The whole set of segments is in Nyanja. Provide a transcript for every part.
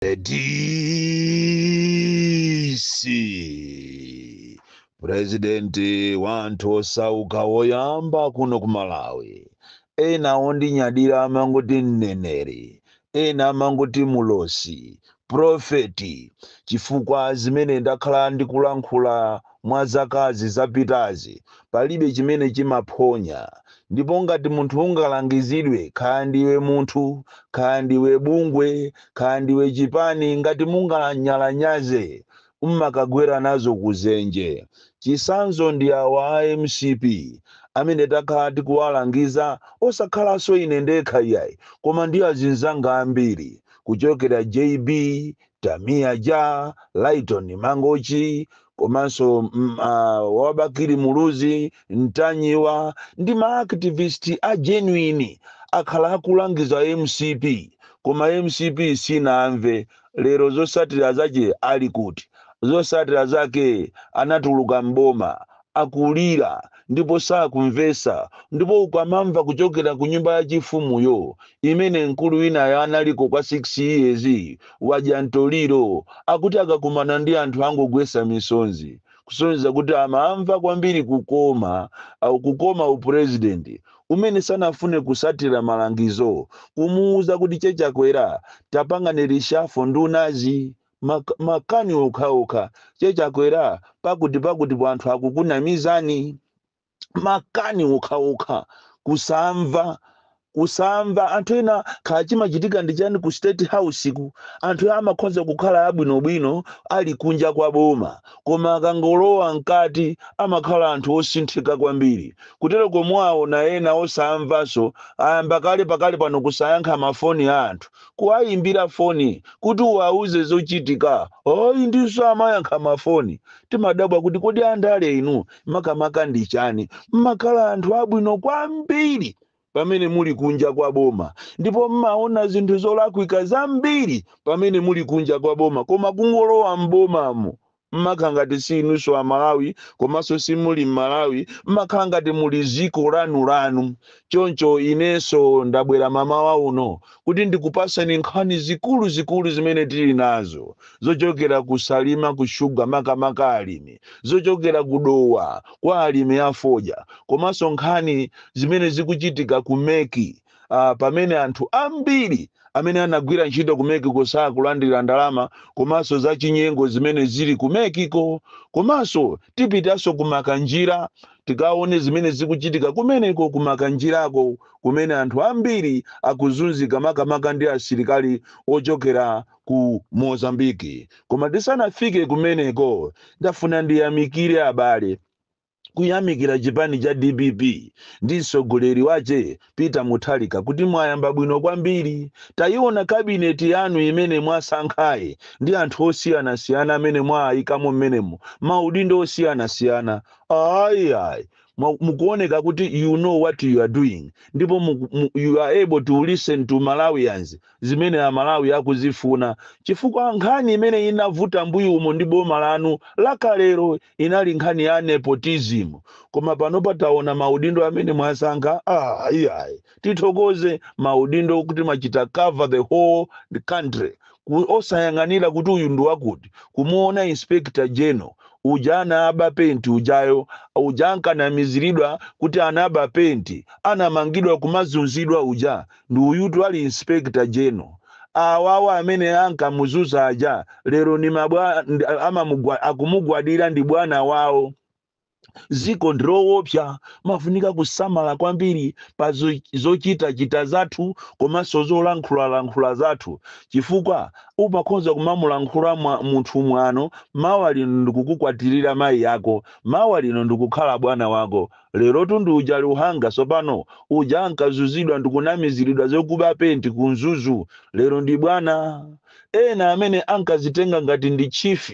The DC purezidenti wa anthu osauka woyamba kuno ku Malawi ena ondinyadira amangoti mneneri ena amangoti mulosi profeti chifukwa zimene ndakhala ndikulankhula mwa zakazi zapitazi, palibe chimene chimaphonya. Ndipo ngati munthu ungalangizidwe, kaya ndiwe munthu, kaya ndiwe bungwe, kaya ndiwe chipani, ngati munganyalanyaze, mmakagwera nazo ku zenje. Chisanzo ndi awa a mcp amene takhala tikuwalangiza, osakhalanso ine ndekha iyayi, koma ndi azinzanga ambiri, kuchokera JB, Tamia Ja, Lyton Mangochi komanso mm, ah, wa Bakili Muluzi, Ntanyiwa ndi ma activist a genuine akhala akulangiza mcp koma mcp sinamve lero zosatira zache ali kuti zosatira zake anatuluka mboma akulira ndipo sakumvetsa, ndipo ukamamva kuchokera ku nyumba ya chifumu yo, imene mkulu winayo analiko kwa 6 years, wadya mtoliro, akuti akakumana ndi anthu angogwetsa misonzi, kusonyeza kuti amamva kwambiri kukoma, uh, kukoma u president, umene sanafune kusatira malangizo kumuuza kuti che Chakwera tapangani reshuffle ndunazi, Ma, makani okhaokha che chakwera pakuti pakuti po anthu akukunamizani makani okhaokha kusamva kusamva anthu ena kaya chimachitika ndi chani ku state house ku anthu amakhoza kukhala abwinobwino ali kunja kwa boma koma akangolowa mkati amakhala anthu osinthika kwambiri kuteroko mwaona ena osamvanso ayamba kale pakali pano kusayankha mafoni a anthu kuwayimbira foni kuti uwauze zochitika, ayi ndi osamayankha mafoni. Timadabwa kuti kodi andale inu makamaka ndi chani? Mmakhala anthu abwino kwambiri pamene muli kunja kwa boma ndipo mmaona zinthu zolakwika zambiri pamene muli kunja kwa boma koma kungolowa m'bomamo mmakhala ngati si inunso a Malawi komanso simuli mmalawi mmakhala ngati muli ziko lanu lanu choncho inenso ndabwera mamawa uno kuti ndikupaseni nkhani zikulu zikulu zimene tili nazo zochokera ku Salima ku Sugar makamaka alimi zochokera ku Dowa kwa alimi a fodya komanso nkhani zimene zikuchitika ku MEC uh, pamene anthu ambiri amene anagwira ntchito ku mec ko sakulandira ndalama komanso za chinyengo zimene zili ku mec ko komanso tipitanso ku makanjira tikaone zimene zikuchitika kumeneko ku makanjirako kumene anthu ambiri akuzunzika makamaka ndi asilikali ochokera ku mozambiki koma tisanafike kumeneko ndafuna ndiyamikire abale kuyamikira chipani cha dpp ndi mtsogoleri wache Peter Mutharika kuti mwayamba bwino kwambiri. Tayiona kabineti yanu imene mwasankhayi ndi anthu osiyanasiyana amene mwaayikamo mmenemo, maudindo osiyanasiyana. Ayi, ayi, mwa- mukuoneka kuti you know what you are doing ndipo muku- mu- you are able to listen to Malawians zimene Amalawi akuzifuna chifukwa nkhani imene inavuta mbuyo umo ndi boma lanu lakalero inali nkhani ya nepotism koma panopa taona maudindo amene mwasankha ah iyayi tithokoze maudindo kuti mwachita cover the whole country ku, osayang'anira kuti uyu ndi wakuti kumuona inspector general uja anaba penti ujayo uja ankanamiziridwa kuti anaba penti anamangidwa kumazunzidwa uja Ndi uyutu ali inspector general. Awawa amene ankamuzunza aja lero ni mabwa ndi- amamugwa akumugwadira ndi bwana wawo. Dziko ndi lowopsa umafunika kusamala kwambiri pa zo- zochitachita zathu komanso zolankhulalankhula zathu chifukwa umakhoza kumamulankhula mwa, munthu mwano mawa lino ndikukukwatirira mayi ako mawa lino ndikukhala bwana wako Lerotu ndi uja Luhanga tsopano, uja ankazunzidwa ndi kunamiziridwa zokuba penti ku Mzuzu, lero ndi bwana. Ena amene ankadzitenga ngati ndi chief,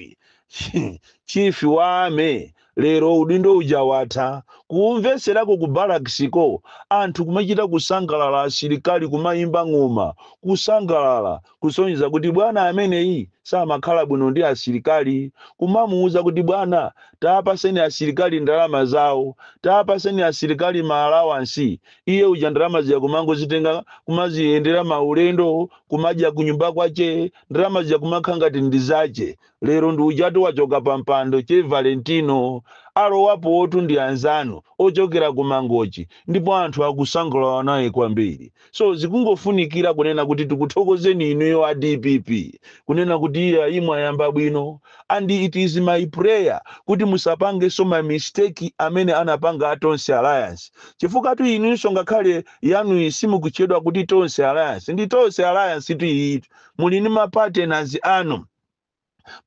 chief wa army, lero udindo uja watha. Kumvetserako ku barracks ko, anthu kumachita kusangalala asilikali kumayimba ng'oma, kusangalala, kusonyeza kuti bwana ameneyi samakhala bwino ndi asilikali. Kumamuuza kuti bwana tapaseni asilikali ndalama zawo, tapaseni asilikali ma allowance, iye uja ndalama zija kumangozitenga kumayendera maulendo, kumadya kunyumba kwache, ndalama zija kumakhala ngati ndi zache. Lero ndi ujatu wachoka pa mpando che Valentino. Alowapotu ndi anzanu ochokera ku Mangochi ndipo anthu akusangalala naye kwambiri. So zikungofunikira kunena kuti tikuthokozeni inuyo a dpp kunena kuti iyayi mwayamba bwino and it is my prayer kuti musapangenso ma mistake amene anapanga a Tonse Alliance chifukwa-tu inunso ngakhale yanuyi simukutchedwa kuti Tonse Alliance ndi Tonse Alliance tu iyitu muli ndi ma partners anu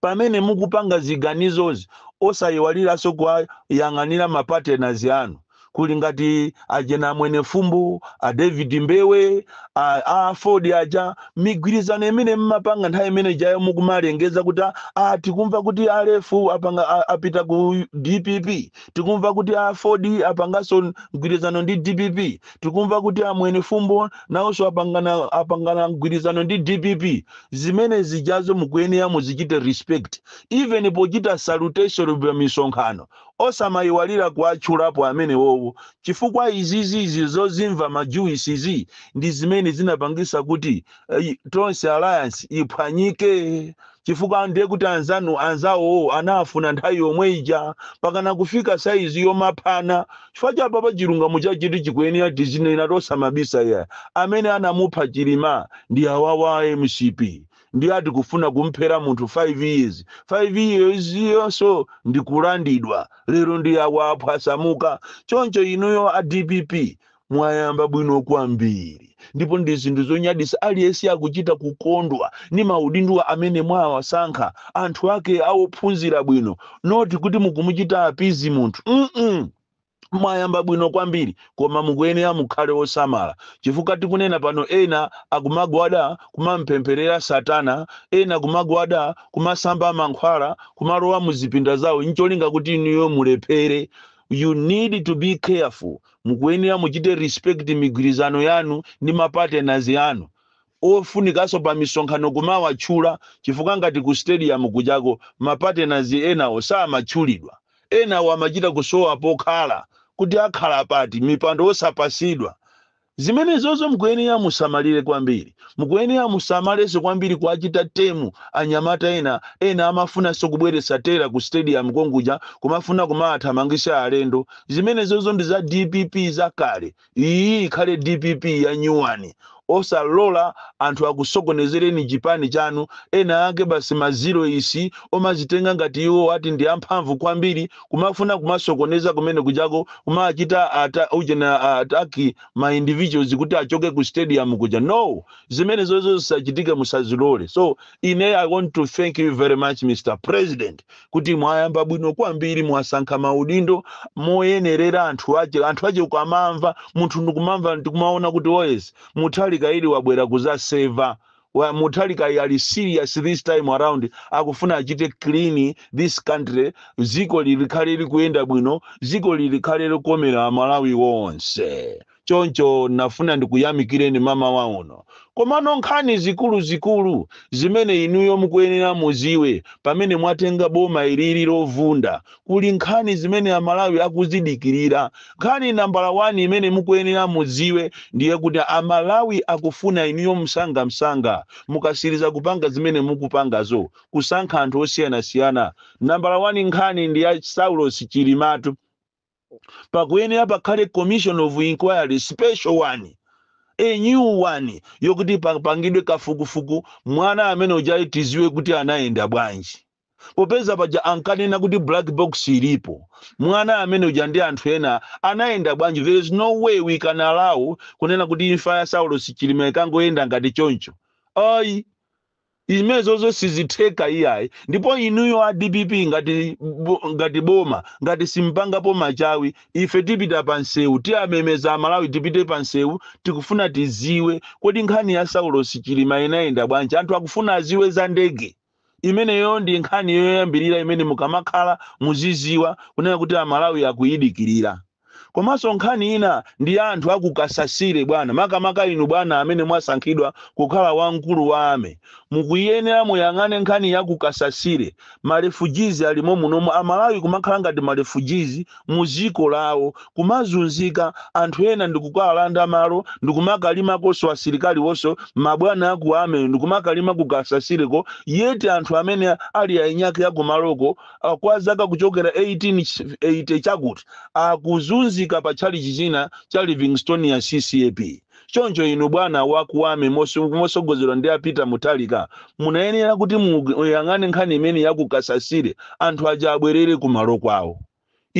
pamene mukupanga ziganizozi osayiwaliranso kuwayang'anira ma partners anu kuli ngati ajena a Mwenifumbo a David Mbewe a, a AFORD aja migwirizano imene mmapanga nthawi imene jayo mukumalengeza kuti "Ah, ah, tikumva kuti a LEF apanga a- apita ku DPP tikumva kuti AFORD apanganso mgwirizano ndi DPP tikumva kuti a Mwenifumbo nawonso apangana apangana mgwirizano ndi DPP zimene zijazo mukuyenera muzichite respect even pochita salutation pa misonkhano osamayiwalira kuwatchulapo amenewowo chifukwa izizi izi zozimva majuwisi izi ndi zimene zinapangisa kuti eh, Tonse Alliance iphwanyike chifukwa ndiye kuti anzanu anzawowo anafuna nthawi yomwe ija pakana kufika saizi yomaphana chifukwa cha apapa chilungamo chake nchoti chikuyenera tizinena tosamabisa ya amene anamupha Chilima ndi awawa a MCP ndi ati kufuna kumphera munthu 5 years 5 years yonso ndi kulandidwa lero ndi awa aphwasamuka choncho inuyo a DPP mwayamba bwino kwambiri ndipo ndi zinthu zonyadisa aliyense akuchita kukondwa ndi maudindowa amene mwawasankha anthu ake awophunzira bwino noti kuti mukumuchita appease munthu mm -mm. mwayamba bwino kwambiri koma mukuyenera mukhale osamala chifukwa tikunena pano ena akumagwada kumampempherera satana ena kumagwada kumasamba mankhwala kumalowa muzipinda zawo ncholinga kuti inuyo mulephere you need to be careful mukuyenera muchite respect migwirizano yanu ndi ma partners anu ofunikaso pa misonkhano kumawatchula chifukwa ngati ku stadium kujako ma partners ena osamatchulidwa enawo amachita kusowa pokhala kuti akhala pati mipando osapasidwa zimenezozo mukuyenera musamalire kwambiri mukuyenera musamalenso kwambiri kuwachita tame anyamata ena ena amafunanso kubweretsa terror ku stadium konkuja kumafuna kumawathamangisa alendo zimenezozo ndi za DPP zakale iyi ikhale DPP ya nyuwani osalola anthu akusokonezereni chipani chanu ena ake basi maziro isi omazitenga ngati iwo ati ndi amphamvu kwambiri kumafuna kumasokoneza kumene kujako kumawachita ata, uchena attack ma individuals kuti achoke ku stadium kuja no zimenezozo zisachitike musazilole so ine I want to thank you very much Mr President kuti mwayamba bwino kwambiri mwasankha maudindo moyenerera anthu ache anthu ache ukamamva munthu ndikumamva ndikumaona kuti oh yes Mutharika uyu wabwera kuzaseva Wa- Mutharika uyu ali serious this time around akufuna achite clean this country ziko ili likhale likuyenda bwino ziko ili likhale likukomera aMalawi onse Choncho nafuna ndikuyamikireni mamawa uno. Komano nkhani zikuluzikulu zimene inuyo mukuyenera muziwe pamene mwatenga boma ilili lovunda, kuli nkhani zimene aMalawi akuzidikirira. Nkhani nambala wani imene mukuyenera mudziwe ndiye kuti aMalawi akufuna inuyo msangamsanga mukasiliza kupanga zimene mukupangazo, kusankha anthu osiyanasiyana. Nambala wani nkhani ndi ya Saulos Chilimatu. pakuyenera pakhale commission of inquiry special one a new one yokuti papangidwe kafukufuku mwana amene uja tiziwe kuti anayenda bwanji popeza paja ankanena kuti black box ilipo mwana amene uja ndi anthu ena anayenda bwanji there is no way we can allow kunena kuti imfa ya saulos chilima ikangoyenda ngati choncho ayi Zimenezozo sizitheka iyayi ndipo inuyo a dpp ngati boma ngati simpangapo machawi ife tipita pa nsewu tiwamemeza amalawi tipite pa nsewu tikufuna tiziwe kodi nkhani ya saulosi chilima inayenda bwanji anthu akufuna aziwe za ndege imeneyo ndi nkhani yoyambirira imene mukamakhala muziziwa kunena kuti amalawi akuyidikirira Komanso nkhani ina ndi ya anthu a ku Kasasire bwana, makamaka inu bwana amene mwasankhidwa kukhala wamkulu wa Army, mukuyenera muyang'ane nkhani ya ku Kasasire, ma refugees ali momunomu, a Malawi kumakhala ngati ma refugees mu ziko lawo, kumazunzika, anthu ena ndikukawalanda malo ndikumakalimakonso asilikaliwonso, mabwana a ku Army ndikumakalima ku Kasasireko yet anthu amene ali ainyake a kumaloko, ah, kwa zaka kuchokera 1880 chakuti akuzunzika pa tchalichi china cha livingstonia ccap choncho inu bwana wa ku Army moso- mosogozedwa ndi a Peter Mutharika munayenera kuti muyang'ane nkhani imene ya ku Kasasire anthu aja abwerere kumalo kwawo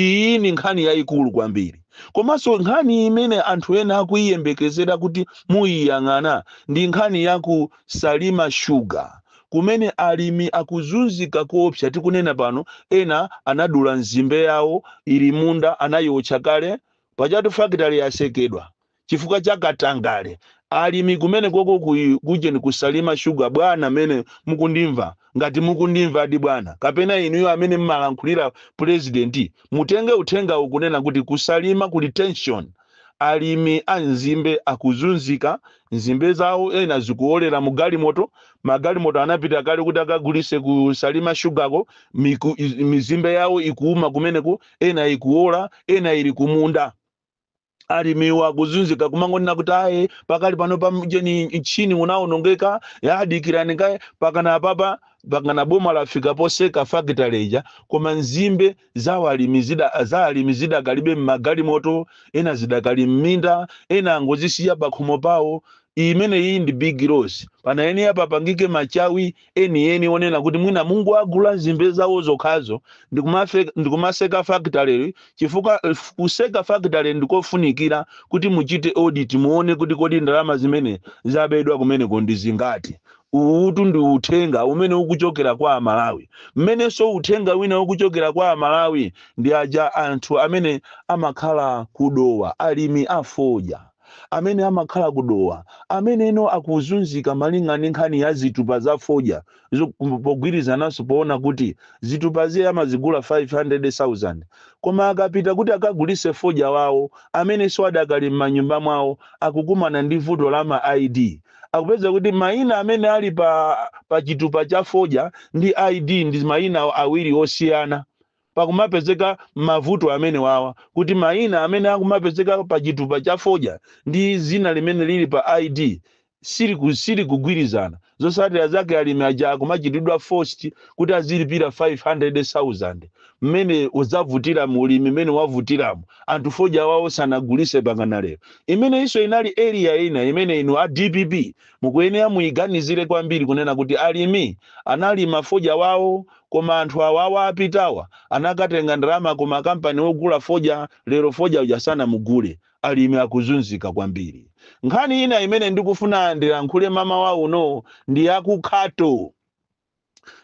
Iyi ndi nkhani yaikulu kwambiri, komanso nkhani imene anthu ena akuiyembekezera kuti muiyang'ana ndi nkhani ya ku Salima Sugar, kumene alimi akuzunzika koopsa. Tikunena pano, ena anadula nzimbe yawo ili munda, anaiotcha kale. Pajatu fakitale yasekedwa, chifukwa cha katangale alimi kumenekoko ku kujeni ku salima sugar bwana amene mukundimva ngati mukundimvadi bwana kapena inuyo amene mmalankhulira president mutenge uthengawu kunena kuti ku salima kuli tension alimi a nzimbe akuzunzika nzimbe zawo ena zikuolera mu galimoto magalimoto anapita kale kuti akagulise ku salima shugako miku, iz- mizimbe yawo ikuuma kumeneko ena ikuola ena ili kumunda alimiwa akuzunzika kumangonena kuti ayi pakali pano pamjeni mchini unaonongeka ya dikirani kaye pakana apapa pakana boma lafika poseka fakitale ija koma nzimbe za alimi zidakalibe mmagalimoto ena zidakali mminda ena angozisiya pakhomo pawo imeneyi ndi big loss panayenera papangike machawi enieni onena kuti mwina mungowagula nzimbe zawo zokhazo ndikumaseka fakitaleyo chifukwa f- kuseka fakitale ndikofunikira kuti muchite audit muone kuti kodi ndalama zimene zabedwa kumeneko ndi zingati uwutu ndi uthenga umene ukuchokera kwa amalawi mmenenso uthenga wina ukuchokera kwa amalawi ndi aja anthu amene amakhala ku dowa alimi afodya amene amakhala ku Dowa ameneno akuzunzika malingana ndi nkhani ya zitupa za fodya pogwirizananso poona kuti zitupazi amazigula 500,000 koma akapita kuti akagulitse fodya wawo amenenso adakali m'manyumba mwawo akukumana ndi vuto la ma ID akupeza kuti mayina amene ali pa pa chitupa cha fodya ndi ID ndi mayina awiri osiyana. pakumapezeka mavuto amenewawa kuti mayina amene akumapezeka pa chitupa cha fodya ndi dzina limene lili pa ID siliku- silikugwirizana zotsatira zake alimi aja akumachitidwa forced kuti azilipira 500,000 mmene udzavutira mu ulimi mmene wavutiramu anthu fodya wawo sanagulise pakana lero imeneyinso inali area ina imene inu a dpp mukuyenera muyiganizire kwambiri kunena kuti alimi analima fodya wawo Koma anthu awawa apitawa anakatenga ndalama ku ma kampani ogula fodya lero fodya uja sanamugule. Alimi akuzunzika kwambiri. Nkhani ina imene ndikufuna ndilankhule mamawa uno ndi ya ku Khato.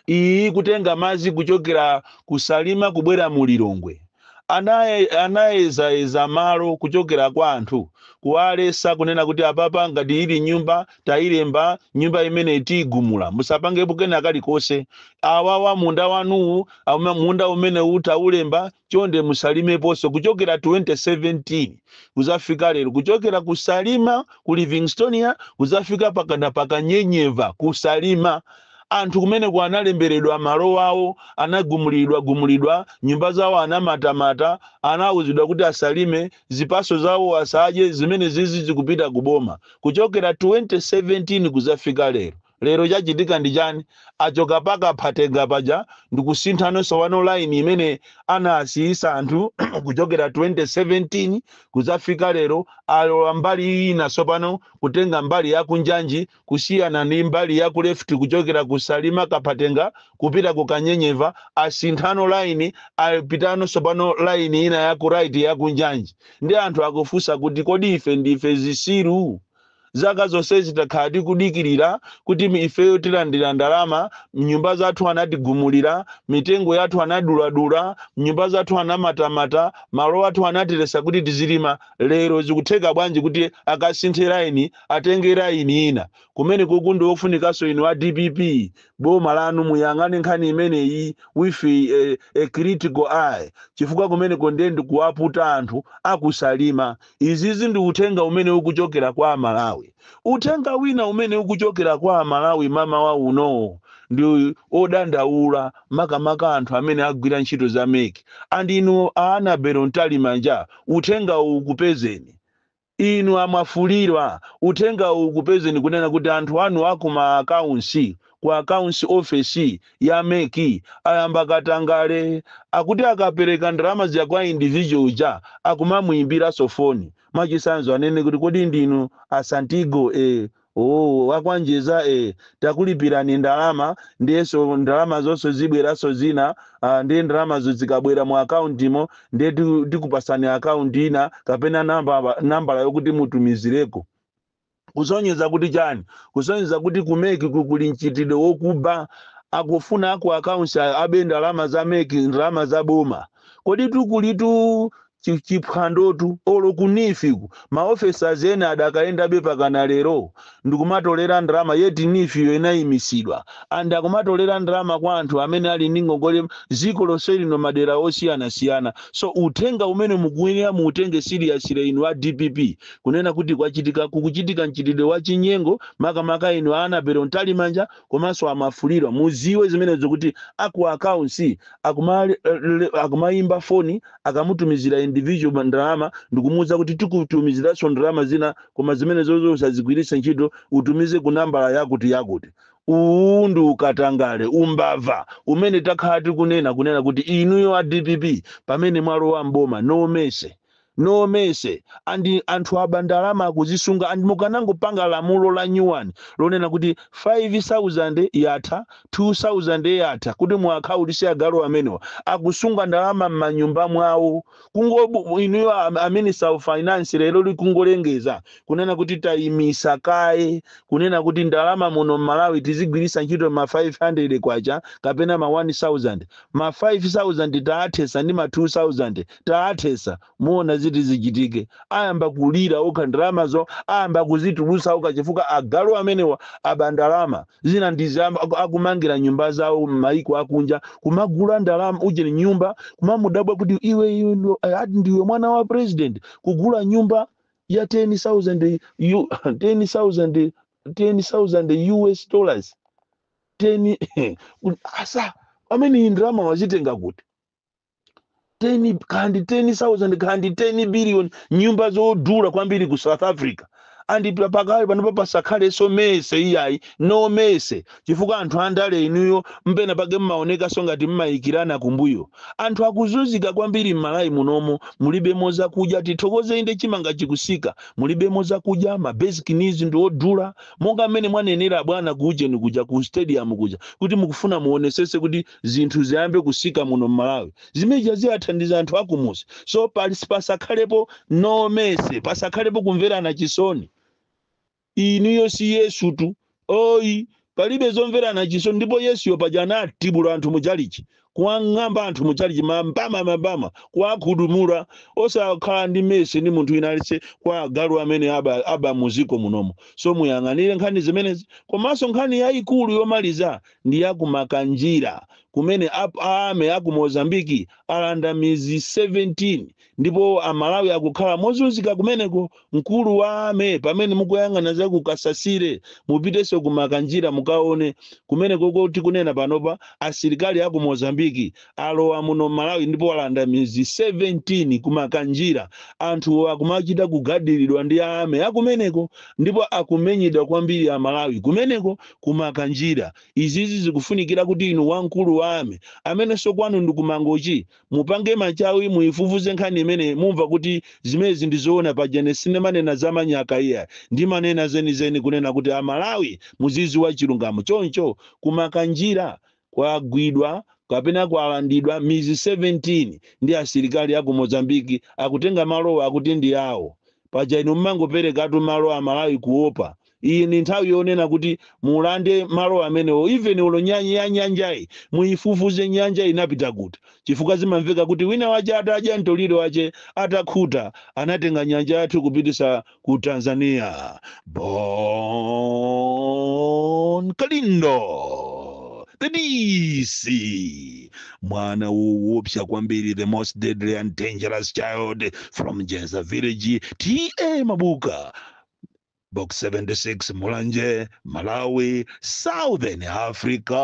Iyi ikutenga madzi kuchokera ku Salima kubwera mu Lilongwe. Anaye anayezayeza malo kuchokera kwa anthu, kuwalesa kunena kuti apapa ngati ili nyumba tayilemba nyumba imeneyi tiyigumula musapangepo kena kalikose, awawa munda wanuwu munda umenewu tawulemba chonde musalimeposo kuchokera 2017 kuzafika lero kuchokera ku Salima ku Livingstonia kuzafika pakana pa Kanyenyeva ku Salima Anthu kumeneko analemberedwa malo awo, anagumuliridwagumuliridwa, nyumba zawo anamatamata, anawuzidwa kuti asalime, zipatso zawo asadye, zimenezizi zikupita ku boma kuchokera 2017 kudzafika lero. Lero chachitika ndi chani? Achoka pa Kaphatenga paja ndikusinthano tsopano line imene anasiyitsa anthu kuchokera 2017 kudzafika lero alowa mbali ina tsopano kutenga mbali ya kunjanji, kusiyana ndi mbali ya ku left kuchokera ku Salima Kaphatenga kupita ku Kanyenyeva asinthano line apitano tsopano line ina ya ku right ya ku Njanji ndi anthu akufunsa kuti kodi ife ndife zitsiru zaka zonsezi takhala tikudikirira kuti ifeyo tilandira ndalama nyumba zathu anatigumulira mitengo yathu anaduladula nyumba zathu anamatamata malo athu anatiletsa kuti tizilima lero zikutheka bwanji kuti akasinthe laini Atenge line ina kumenekuku nde ofunikanso inu a dpp boma lanu muyang'ane nkhani imeneyi with a, a critical eye chifukwa kumeneko ndiye ndikuwaputa anthu aku Salima izizi ndi uthenga umene ukuchokera kwa amalawi uthenga wina umene ukuchokera kwa amalawi mmawa uno ndi odandaula makamaka anthu amene agwira ntchito za mec and inu a Annabel Mtalimanja uthengawu ukupezeni Inu a Mwafulirwa, uthengawu ukupezeni kunena kuti anthu anu a ku ma accounts ku accounts ofesi ya mec ayamba katangale. Akuti akapereka ndalama zija kwa individual uja akumamuimbiranso foni. Mwachitsanzo anene kuti kodi ndinu a Santigo? Eeh. Ooo wa kwa Njeza ee takulipirani ndalama ndiyenso ndalamazonso zibweranso zina aa ndiye ndalamazo zikabwera mu account mo ndiye tiku tikupatsani account ina kapena nambaba nambala yokuti mutumizireko kusonyeza kuti chani kusonyeza kuti ku mec-ku kuli mchitidwe wokuba akufuna aku accounts ayo abe ndalama za mec ndalama za boma koditu kulitu Chi chiphwandotu olo ku neef ku ma officers ena adakayendabe mpakana lero ndikumatolera ndalama yet neef yo inayimisidwa and akumatolera ndalama kwa anthu amene ali ndi ngongole ziko lonse lino madera osiyanasiyana so uthenga umene mukuyenera muutenge seriously inu a dpp kunena kuti kwachitika kukuchitika mchitidwe wa chinyengo makamaka inu a Annabel Mtalimanja komanso a Mwafulirwa mudziwe zimenezo kuti aku accounts akumal akumayimba foni akamutumizira individual ma- ndalama ndikumuwuza kuti tikutumiziranso ndalama zina koma zimenezozo usazigwiritse ntchito utumize ku nambala yakuti yakuti uwu ndi ukatangale umbava umene takhala tikunena kunena kuti inuyo a dpp pamene mwalowa mboma no mercy no mercy andi anthu aba ndalama akuzisunga andi mukanangopanga lamulo la nyuwani lonena kuti 5000 yatha 2000 yatha kuti muwakhaulise agalu amenewa akusunga ndalama mmanyumba mwawo kungo inuyo a minister of finance lero likungolengeza kunena kuti tayimitsa kaye kunena kuti ndalama muno mmalawi tizigwiritsa ntchito ma 500 kwacha kapena ma 1000 ma 5000 taathetsa ndi ma 2000 taathetsa muona ziti zichitike ayamba kulira okha ndalamazo ayamba kuzitulusa okha chifukwa agalu amenewa aba ndalama zina ndizi am- aku- akumangira nyumba zawo m'mayiko akunja kumagula ndalama ujeni nyumba kumamudabwa kuti iwe iwe ndo- eh, ati ndiwe mwana wa president kugula nyumba ya 10000 U- 10000 10000 us dollars 10 asa amene iyi ndalama wazitenga kuti 10 kaya ndi 10000 kaya ndi 10 billion nyumba zodula kwambiri ku south africa and pa- pakali panopa pasakhalenso mercy iyayi no mercy chifukwa anthu andale inuyo penapake mmaonekanso ngati mmayikirana kumbuyo anthu akuzunzika kwambiri m'malawi munomo mulibemo zakudya tithokoze inde chimanga chikusika mulibemo zakudya ma basic needs ndi odula monga mmene mwanenera bwana kuujeni kuja ku stadium kuja kuti mukufuna muonesese kuti zinthu ziyambe kusika muno mmalawi zimeja ziwathandiza anthu akumuzi so pali- pasakhalepo no mercy pasakhalepo kumverana chisoni inuyo si yesutu ayi palibe zomverana chisoni ndipo yesuyo paja anatibula anthu muchalichi kuwang'amba anthu muchalichi mambama mambama kuwakhudumula osakhala ndi mercy ndi munthu wina aliyense kwa agalu amene aba, aba muziko munomo so muyang'anire nkhani zimenezi komanso nkhani yayikulu yomaliza ndi ya ku Makanjira kumene a Army a ku Mozambique alanda midzi 17 ndipo a Malawi akukhala mozunzika kumeneko. Mkulu wa Army pamene mukuyang'ana za ku Kasasire mupitenso ku Makanjira mukaone. Kumenekoko tikunena panopa asilikali a ku Mozambique alowa muno m'Malawi ndipo alanda midzi 17 ku Makanjira. Anthu akumachita kugadiridwa ndi a Army a kumeneko ndipo akumenyedwa kwambiri Amalawi kumeneko ku Makanjira. Izizi zikufunikira kuti inu wamkulu wa Army, amenenso kwanu ndi ku Mangochi, mupange machawi muifufuze nkhani imeneyi mumva kuti zimenezi ndi zoona. Paja ine sindimanena za manyaka iyayi, ndimanena zenizeni kunena kuti Amalawi muzidziwa chilungamo. Choncho ku Makanjira kwagwidwa kapena kwalandidwa mizi 17 ndi asilikali aku Mozambique akutenga malowa akuti ndi awo. Paja inu mumangoperekatu malo amalawi kuopa. Iyi ndi nthawi yonena kuti mulande malo amenewo even olo nya ya nyanjayi muyifufuze nyanja inapita kuti chifukwa zimamveka kuti wina wache atadya mtoliro wache atakhuta anatenga nyanja yathu kupitisa ku tanzania bon kalindo the dc mwana woopsa kwambiri the most deadly and dangerous child from njedza village ta mabuka box 76 mulanje malawi southern africa